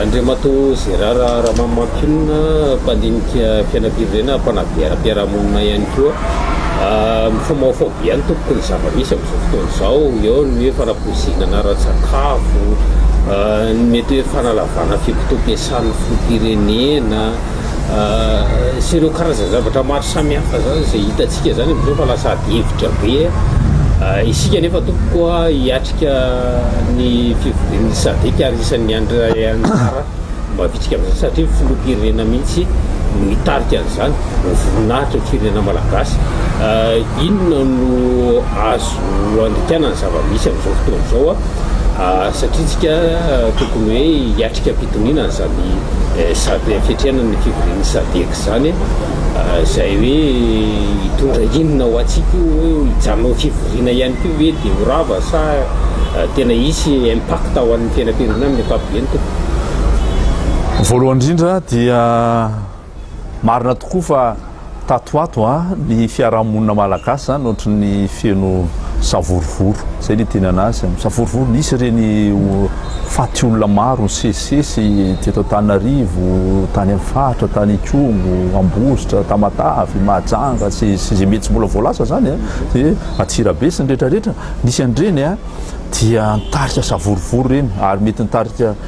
Andriamatoa Gérard Ramamampionona, mpandinika fiainam-pirenena, mpanadihara-piarahamonina ihany koa, Mifaomaofao be ihany tompoko ny zava-misy amin'izao fotoana izao. Eo ny hoe fanapoizinana ara-tsakafo, ny mety hoe fanalavana fikotoam-piasan'ny filoham-pirenena. sy ireo karazan-javatra maro samihafa zany izay hitantsika zany amin'izao fa lasa adihevitra be isika nefa tompoko hiatrika ny fivorian'ny sadek ary isan'ny andray anjara mavitsika amin'izany satria filoham-pirenena mihitsy no hitarika an'izany voninahitra ny firenena malagasy inona no azo no andikana ny zava-misy amin'izao fotoana izao satria tsika tokony hoe hiatrika am-pitoniana izany fiatrehana ny fivorian'ny sadec izany izay hoe hitondra inona ho antsika io hoe hijanona ho fivoriana ihany koa ve dia ho rava sa tena hisy impact ho an'ny fiainam-pirenena amin'ny ankapobeny tompoko. Voalohany indrindra dia. Marina tokoa fa tato ho ato ny fiarahamonina malagasy izany ohatran'ny feno savorovoro, izay no itenana azy, savorovoro, nisy ireny faty olona maro nisesisesy teto Antananarivo, tany amin'ny faritra, tany Ikongo, Ambositra, Tamatave, Mahajanga, sy izay mety tsy mbola voalaza izany an, dia Antsirabe sy ny rehetrarehetra, nisy an'ireny dia nitarika savorovoro ireny ary mety nitarika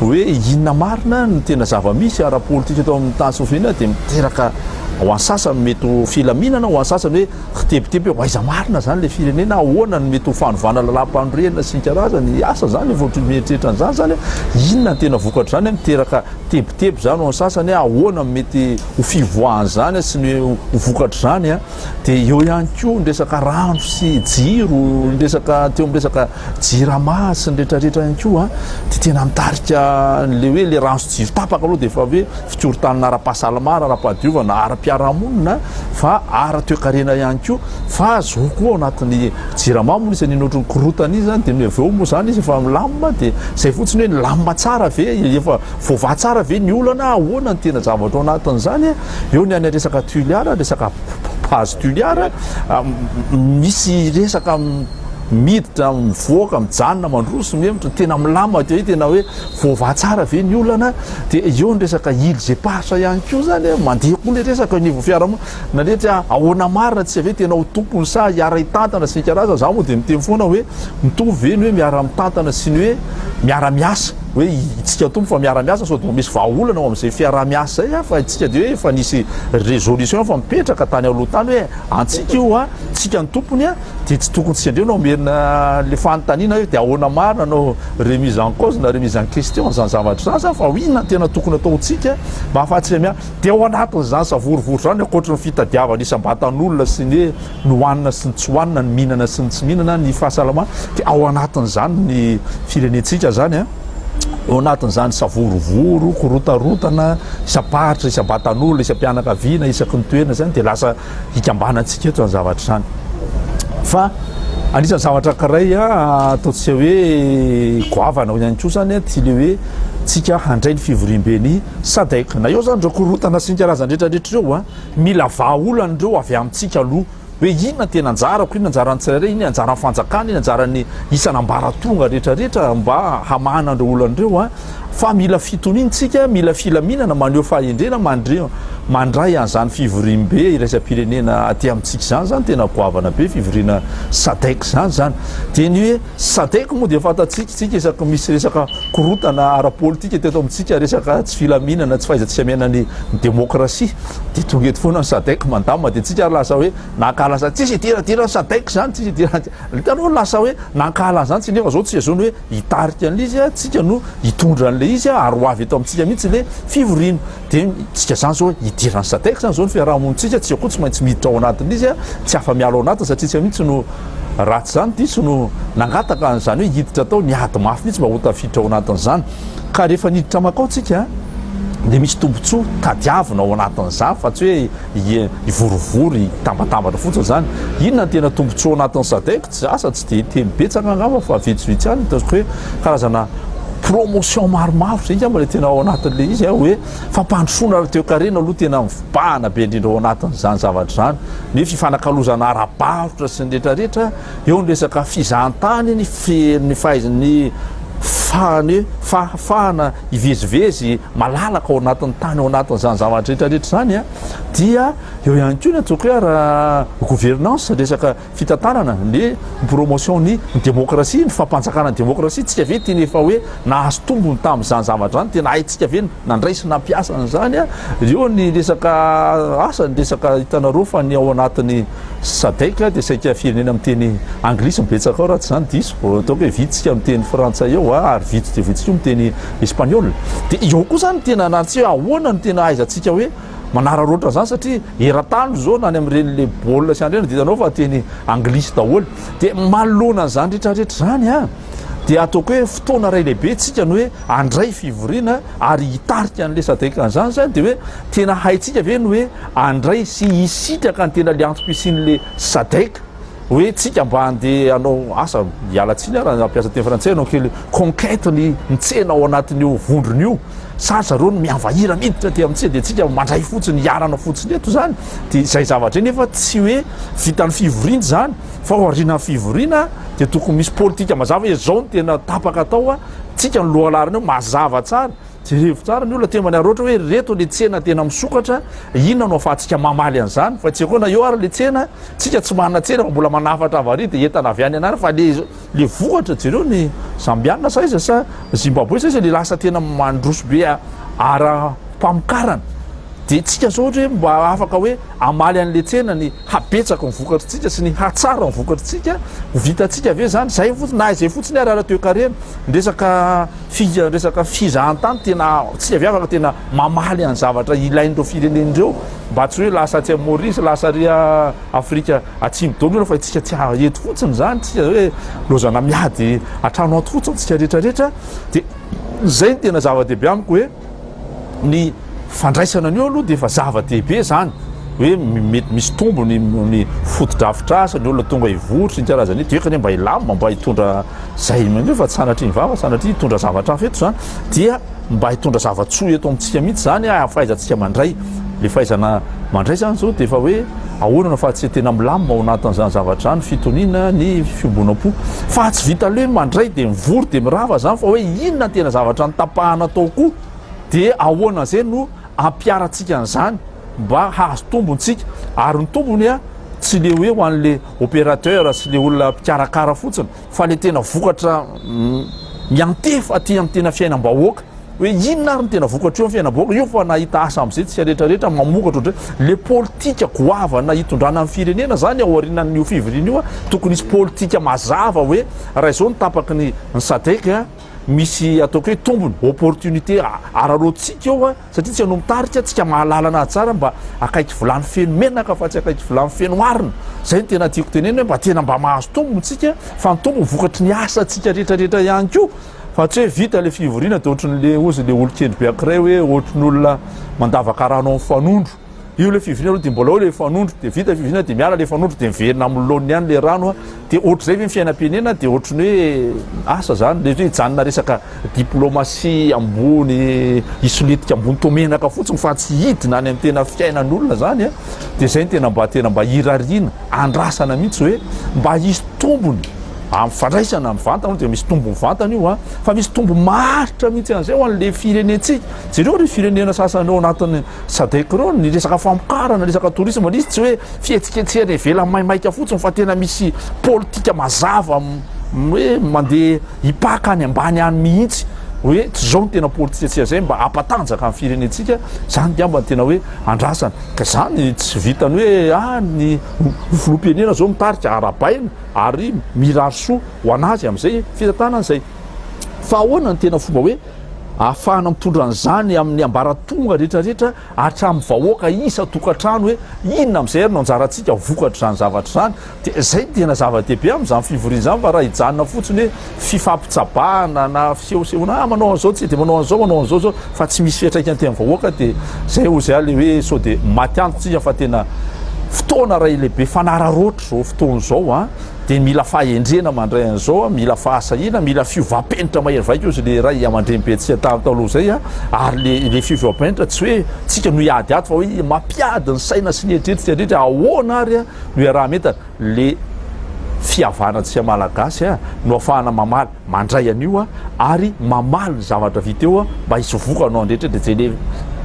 Hoe inona marina no tena zava-misy ara-politika eto amin'ny tany Slovena dia miteraka ho an'ny sasany mety ho filaminana, ho an'ny sasany hoe kitebiteby hoe aiza marina izany ilay firenena, ahoana no mety ho fanovana lalàmpanorenana sy ny karazany asa izany vao ohatry ny mieritreritra an'izany izany, inona ny tena vokatr'izany, miteraka tebiteby izany ho an'ny sasany, ahoana no mety ho fivoahan'izany sy ny ho vokatr'izany dia eo ihany koa ny resaka rano sy jiro, ny resaka teo amin'ny resaka Jirama sy ny rehetra rehetra ihany koa an, dia tena mitarika an'ilay hoe ilay rano sy jiro tapaka aloha dia efa hoe fikorontanana ara-pahasalamana, ara-pahadiovana, ara-piarahamonina fa ara-toekarena ihany koa fa zao koa ao anatin'ny Jirama moa izy an'iny ohatry ny korontana iny izany dia ny avy eo moa izany izy efa milamina dia izay fotsiny hoe nilamina tsara ve, efa voavaha tsara ve ny olana, ahoana ny tena zavatra ao anatin'izany an, eo ny any resaka Tuliar, resaka base Tuliar, misy resaka. miditra mivoaka mijanona mandroso mihevitra tena milamina dia tena hoe voavaha tsara ve ny olana dia eo ny resaka il zepahatra ihany koa zany eh, mandeha koa le resaka niveau fiarahamonina nandritra ahoana marina tsy ve tena ho tompony sa hiara hitantana sy nikaraza za moa dia miteny foana hoe mitovy ve ny hoe miara mitantana sy ny hoe miara miasa hoe itsika tompo fa miara miasa sao dia misy vahaolana ao amin'izay fiaraha miasa zay ah, fa itsika dia hoe efa nisy résolution efa mipetraka tany aloha tany hoe antsika io a ah, tsika ny tompony a ah, Dia tsy tokony tsy endrey no hamerina an'ilay fanontaniana hoe dia ahoana marina no remise en cause na remise en question an'izany zavatra izany sa fa inona no tena tokony hataontsika mba hahafahantsika miala dia ao anatin'izany savorovoro izany ankoatry ny fitadiavana isam-batan'olona sy ny hoe ny hohanina sy ny tsy hohanina, ny mihinana sy ny tsy mihinana, ny fahasalamana dia ao anatin'izany ny firenentsika izany an! Ao anatin'izany savorovoro, korontana isam-paritra, isam-batan'olona, isam-pianakaviana, isaky ny toerana izany dia lasa hikambanantsika eto izany zavatra izany. Fa anisan'ny zavatra ankiray ataontsika hoe goavana ao ihany koa izany a, dia le hoe tsika handray ny fivoriambe ny Sadec. Na eo izany ireo korontana sy ny karazany rehetrarehetra ireo a, mila vahaolana ireo avy amintsika aloha hoe inona tena anjarako, inona anjaran'ny tsirairay, inona anjaran'ny fanjakana, inona anjaran'ny isan'ambaratonga rehetrarehetra mba hamahana an'ireo olana ireo a. Fa mila fitoniana isika, mila filaminana, maneho fahendrena mandre, mandray an'izany fivoriambe iraisam-pirenena aty amintsika izany, izany tena goavana be fivoriana sadec izany izany. Dia ny hoe sadec moa dia fantatsika isika isaky misy resaka korontana ara-politika teto amintsika, resaka tsy filaminana, tsy fahaiza-tsy hamena ny demokrasia, dia tonga eto foana ny sadec mandamina, dia tsika ary lasa hoe nankahala an'izany, tsisy idiran-diran'ny sadec izany, tsisy idiran-, hitanao lasa hoe nankahala an'izany tsika nefa izao tsy azony hoe. hitarika an'ilay izy a, tsika no hitondra an'ilay izy a, ary ho avy eto amintsika mihitsy le fivoriana, de tsika zany zao hidiran'ny sadec zany zao ny fiarahamonintsika, tsika koa tsy maintsy miditra ao anatin'izy a, tsy afa-miala ao anatiny satria tsika mihitsy no raha tsy zany diso no nangataka an'izany hoe hiditra tao, miady mafy mihitsy mba ho tafiditra ao anatin'izany, ka rehefa niditra makao tsika de misy tombotsoa tadiavina ao anatin'izany fa tsy hoe hivorovoro hitambatambatra fotsiny zany, inona ny tena tombotsoa ao anatin'ny sadec? Tsy zatra, tsy dia teny betsaka angamba fa vitsivitsy ihany, ataoko hoe karazana promotion maromaro, zay angamba ilay tena ao anatin'ilay izy a, hoe fampandrosoana aloha toekarena aloha tena mibahana be indrindra ao anatin'izany zavatra izany, ny fifanakalozana ara-barotra sy ny rehetrarehetra, eo ny resaka fizahantany, ny fi, ny fahaiz, ny fahane, fahafahana hivezivezy malalaka ao anatin'ny tany ao anatin'izany zavatra rehetrarehetra izany a, dia eo ihany koa ny ataoko hoe ara-gouvernance, resaka. fitantanana ny promotion ny demokrasia, ny fampanjakana ny demokrasia, tsika ve tena efa hoe nahazo tombony tamin'izany zavatra izany, tena haintsika ve nandray sy nampiasa an'izany, eo ny resaka asa, ny resaka hitanareo fa ny ao anatin'ny sadec dia saika firenena miteny anglisy no betsaka ao raha tsy izany diso, ataoko hoe vitsika miteny frantsay eo ary vitsy dia vitsy koa miteny espaniola, dia eo koa izany tena na tsy hoe ahoana no tena ahaizantsika hoe manararaotra an'izany satria. eran-tany izao na any amin'ireny le baolina sy andreny dia hitanao fa teny anglisy daholo dia manoloana an'izany rehetrarehetra izany a dia ataoko hoe fotoana iray lehibe tsika ny hoe andray fivoriana ary hitarika an'le sadeka an'izany zany dia hoe tena haitsika ve ny hoe andray sy hisitraka ny tena le antom-pisian'le sadeka hoe tsika mba andeha anao asa hialatsiny ara nampiasa teny frantsay anao kely conquête ny mitsena ao anatin'io vondron'io Sa zareo no mihavahira miditra aty amintsika dia tsika mandray fotsiny hiarana fotsiny eto zany dia izay zavatra nefa tsy hoe vitan'ny fivoriana izany fa aorianan'ny fivoriana dia tokony misy politika mazava hoe zao ny tena tapaka atao a tsika ny lohalarina eo mazava tsara jerevo tsara ny olona tembany aroatra hoe reto le tsena tena misokatra inona no afahantsika mamaly an'izany fa tsy akoana eo ary le tsena tsika tsy manana tsena fa mbola manafatra avary dia entana avy any anara fa le Le vohitra jereo ny Zambiana sa iza sa Zimbabwe sa iza le lasa tena mandroso be ara pamokarana de tsika zao ohatry hoe mba afaka hoe amaly anle tsena ny habetsaky ny vokatry tsika sy ny hatsara ny vokatry tsika ho vita tsika ve zany zay fotsiny na izay fotsiny ary ara toekarena ndresaka fi ndresaka fizahantany tena tsika ve afaka tena mamaly any zavatra ilain'ireo firenen'ireo mba tsy hoe lasa atsy Maurice lasa ry Afrika atsimo daholo ireo fa itsika tsy ahy eto fotsiny izany tsika hoe lozana miady atrano ato fotsiny tsika rehetra rehetra de zay ny tena zava-dehibe amiko hoe ny fandraisana ny eo aloha de efa zava-dehibe izany hoe mety misy tombony ny fotodrafitrasa ny olona tonga hivotry ny karazana io de eka ne mba hilamina mba hitondra zay maneo fa tsy sanatriny vava sanatria hitondra zavatra hafa eto izany dia mba hitondra zava-tsoa eto amintsika mihitsy izany ah, fahaizantsika mandray. Le fahaizana mandray izany izao dia efa hoe ahoana no fahatsiahy tena milamina ao anatin'izany zavatra izany, fitoniana, ny fiombonam-po. Fa tsy vita le mandray dia mivory dia mirava izany fa hoe inona ny tena zavatra notapahana tao koa dia ahoana izay no ampiarantsika an'izany mba hahazo tombontsika. Ary ny tombony ah, tsy le hoe ho an'le opérateur sy le olona mpikarakara fotsiny, fa le tena vokatra miantefa aty amin'ny tena fiainam-bahoaka hoe inona ary ny tena vokatra eo amin'ny fiainam-bahoaka io fa nahita asa amin'izay tsy aretraretra mamokatra ohatray le politika goavana itondrana amin'ny firenena zany ao aorianan'io fivoriana io tokony hisy politika mazava hoe raha izao ny tapaky ny ny sadec misy ataoko hoe tombony opportunité araroantsika eo a Satria tsy ianao mitarika antsika mahalala anazy tsara mba akaiky vilany feno menaka fa tsy akaiky vilany feno arina. Zay no tena tiako tenenina hoe mba tena mba mahazo tombony tsika fa ny tombony vokatry ny asa tsika rehetra rehetra ihany koa fa tsy hoe vita le fivoriana de ohatry ny le ozy le olon-kendry be ankiray hoe ohatry ny olona mandavaka rano amin'ny fanondro. Io le fivina aloha dia mbola eo le fanondro dia vita fivina dia miala le fanondro dia miverina amin'ny laoniny ihany le rano a dia ohatr'izay ve ny fiainam-pirenena dia ohatry ny hoe asa zany le hoe hijanona resaka diplomasia ambony hisolitika ambony toa menaka fotsiny fa tsy hidina any amin'ny tena fiainan'olona zany a dia izay ny tena mba tena mba hirariana andrasana mihitsy hoe mba hisy tombony amin'ny fandraisana amin'ny vantana dia misy tombony vantana io a fa misy tombony maharitra mihitsy an'izay ho an'le firenentsika jereo ry firenena sasany ao anatin'ny Sadec reo ny resaka famokarana resaka tourisme nisy tsy hoe fihetsiketsehana ivelany maimaika fotsiny fa tena misy politika mazava hoe mandeha hipaka any ambany any mihitsy hoe tsy zao ny tena politika tsy azay mba ampatanjaka ny firenentsika zany ngamba ny tena hoe andrasana ka zany tsy vitany hoe ah ny filohampirenena zao mitarika arabaina ary mirary soa ho anazy am'izay fitantanana izay Fa ahoana ny tena fomba hoe ahafahana mitondra an'izany amin'ny ambaratonga rehetrarehetra hatramin'ny vahoaka isan-tokantrano hoe inona amin'izay ary no anjarantsika vokatr'izany zavatra izany? Dia izay no tena zava-dehibe amin'izany fivoriana izany fa raha hijanona fotsiny hoe fifampitsabahana na fisehosehoana ah manao an'izao tsika dia manao an'izao manao an'izao izao fa tsy misy fiantraikany tena vahoaka dia izay hoy izay ilay hoe sao dia maty antoka isika fa tena fotoana iray lehibe fanararaotra izao fotoana izao an dia mila fahendrena mandray an'izao a, mila fahasahiana, mila fiovam-penitra mahery vaika hozy le ray aman-dreny be tsy talo taloha izay a, ary le le fiovam-penitra tsy hoe tsika no hiady ato fa hoe mampiady ny saina sy ny eritreritry rehetra ahoana ary a no iaraha-mientana le fihavanantsika malagasy a no afahana mamaly mandray an'io ary mamaly ny zavatra vita eo mba hisy vokany ho an'ny rehetra dia izay le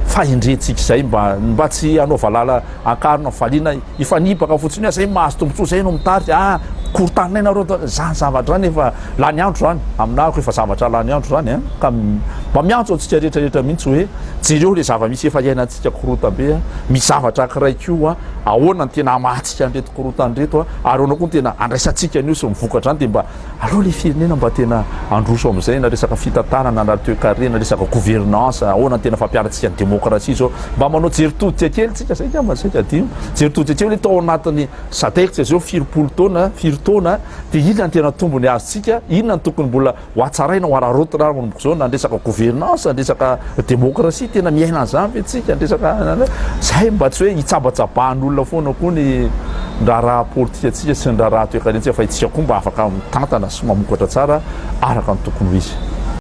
fahendrentsika izay mba mba tsy hanao valala an-karona fifaliana hifanipaka fotsiny hoe zay mahazo tombontsoa zay no mitarika ah korontanina nareo zany zavatra zany efa lany andro zany aminahiko efa zavatra lany andro zany a ka mba miantso antsika rehetra rehetra mihitsy hoe jereo le zava-misy efa iainantsika korontambe a misy zavatra akiray koa ahoana ny tena hamahantsika an'ireto korontany reto a ary ahoana koa ny tena andraisantsika an'io sy mivokatra any dia mba Aleo le firenena mba tena androso amizay na resaka fitantanana na toekarena resaka gouvernance ahoana tena fampiarantsika ny demokrasia zao mba manao jery todika kely tsika zay ngamba zay ka adino jery todika kely hoe tao anatiny sadec tsy azeo firy polo taona firy taona de inona ny tena tombony azo tsika inona ny tokony mbola ho atsaraina ho araraotina armomboko zao na resaka gouvernance resaka Demokrasia tena miaina an'izany ve tsika ny resaka zay mba tsy hoe hitsabatsabahan'olona foana koa ny raharaha politika tsika sy ny raharaha toekarena tsika fa itsika koa mba afaka mitantana sy mamokatra tsara araka ny tokony ho izy.